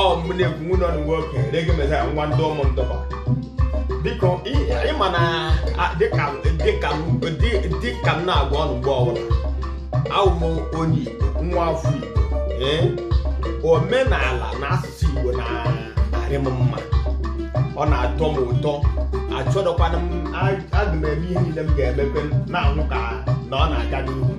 ọ mụ na-ekwu nwanne ụnụ nwoke Reggae Messiah nwa ndị ụmụ ndọba biko ịma na dịka m na-agwa ụnụ mgbe ọbụla awụ m onye Igbo nwa afọ Igbo ee omenala na asụsụ Igbo na-arị m mma ọ na-atọ m ụtọ achọdọkwana m aga m eme ihe niile m ga-emebe na-ahụ ka na ọ na-aga n'ihu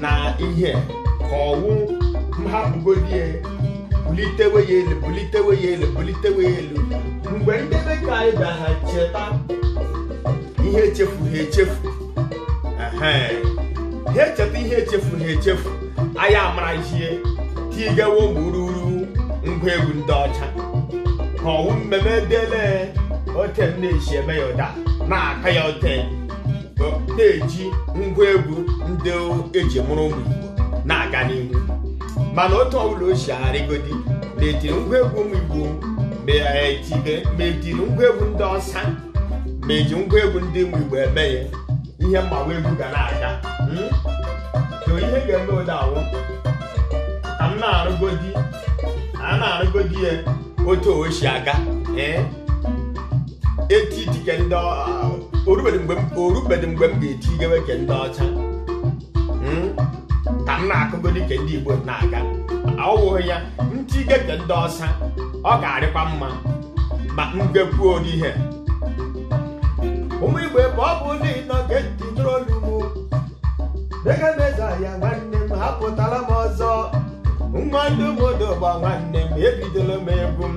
na ihe ka ọwụ m hapụgodi ya bulitewe ya elu bulitewe ya elu bulitewe ya elu mgbe ndị be ka anyị bịa ha cheta ihe echefu ha echefu Ehe. ha echeta ihe echefu ha echefu anyị amarazie tigewo gburugburu ngwa egwu ndị ọcha ka ọwụ mmemme dele ote m na-esi eme ya ụda na-aka ya ote na-eji ngwa egwu ndị eji mụrụ ụmụ Igbo na-aga n'ihu mana otu ọbụla o si arịgodi na-etiri ngwa egwu ụmụ Igbo ma etibe ma etiri ngwa egwu ndị ọcha ma eji ngwa egwu ndị ụmụ Igbo eme ya ihe mgbawa egwu ga na-aga hmm? so ihe ga-eme ụda awụ ka m na-arụgodi a na-arụgodi ya otu o si aga ee eti iti ke ndị orubedị mgbe m orubedị mgbe m ga-etigewe ke ndị ọcha Hmm? ka m na-akụgodi ke ndị igbo na-aga ọwụghị ya m tige ke ndị ọcha ọ ga-arịkwa mma ma m gekwuo ụdị ihe ụmụ igbo ebe ọbụna ị nọ gee ntị nụrụ olu mụ Reggae Messiah nwanne m apụtala m ọzọ nwa ndị ụmụ odogba nwanne m ebidola m egwu m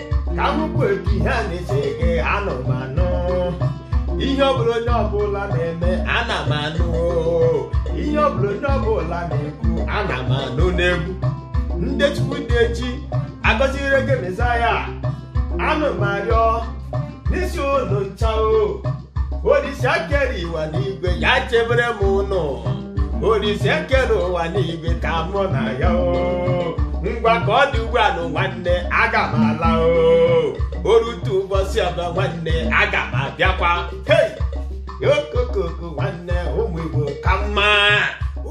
ka m bụ etu ihe a na-ese gị anụ m anụ ihe ọbụla onye ọbụla na-eme ana m anụ ihe ọbụla onye ọbụla na-ekwu ana m anụ n'egwu ndị chukwu dị echi agọzi Reggae Messiah anụ m arịọ n'isi ụlọ ncha o Olise kere ụwa n'igwe ya chebere m ụnụ Olise kere ụwa n'igwe ka mụ na ya o ngwa ka ọ dị ugbu a nụ nwanne aga m ala o orute ụbọchị ọba nwanne aga m abịakwa hei okokoko nwanne ụmụ Igbo ka mma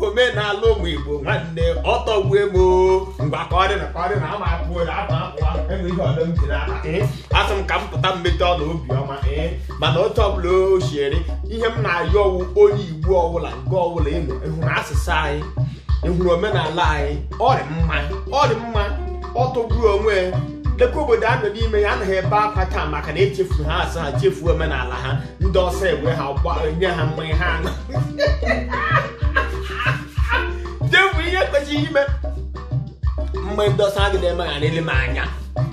omenala ụmụ Igbo nwanne ọ tọgbue m o ngwa ka ọ dị na ka ọ dị na ama apụ apụ apụ enwe ihe ọdọ m jiri aka asị m ka m pụta mmete ọla obiọma ee mana otu ọbụla o siere ihe m na-ayọ ọwụ onye igbo ọbụla nke ọbụla ịnụ ịhụrụ asụsụ anyị ịhụrụ omenala anyị ọ dị mma ọ dị mma ọ tọgburu onwe ya. lekwa obodo a nọ n'ime ya anaghị ebe akwa taa maka na echefuru ha asụsụ ha chefuo omenala ha ndị ọzọ egbe ha gbanye ha mmanya ha aṅụ chefu ihe kwesịrị ime mgbe ndị ọzọ agị na-eme ha nlelị anya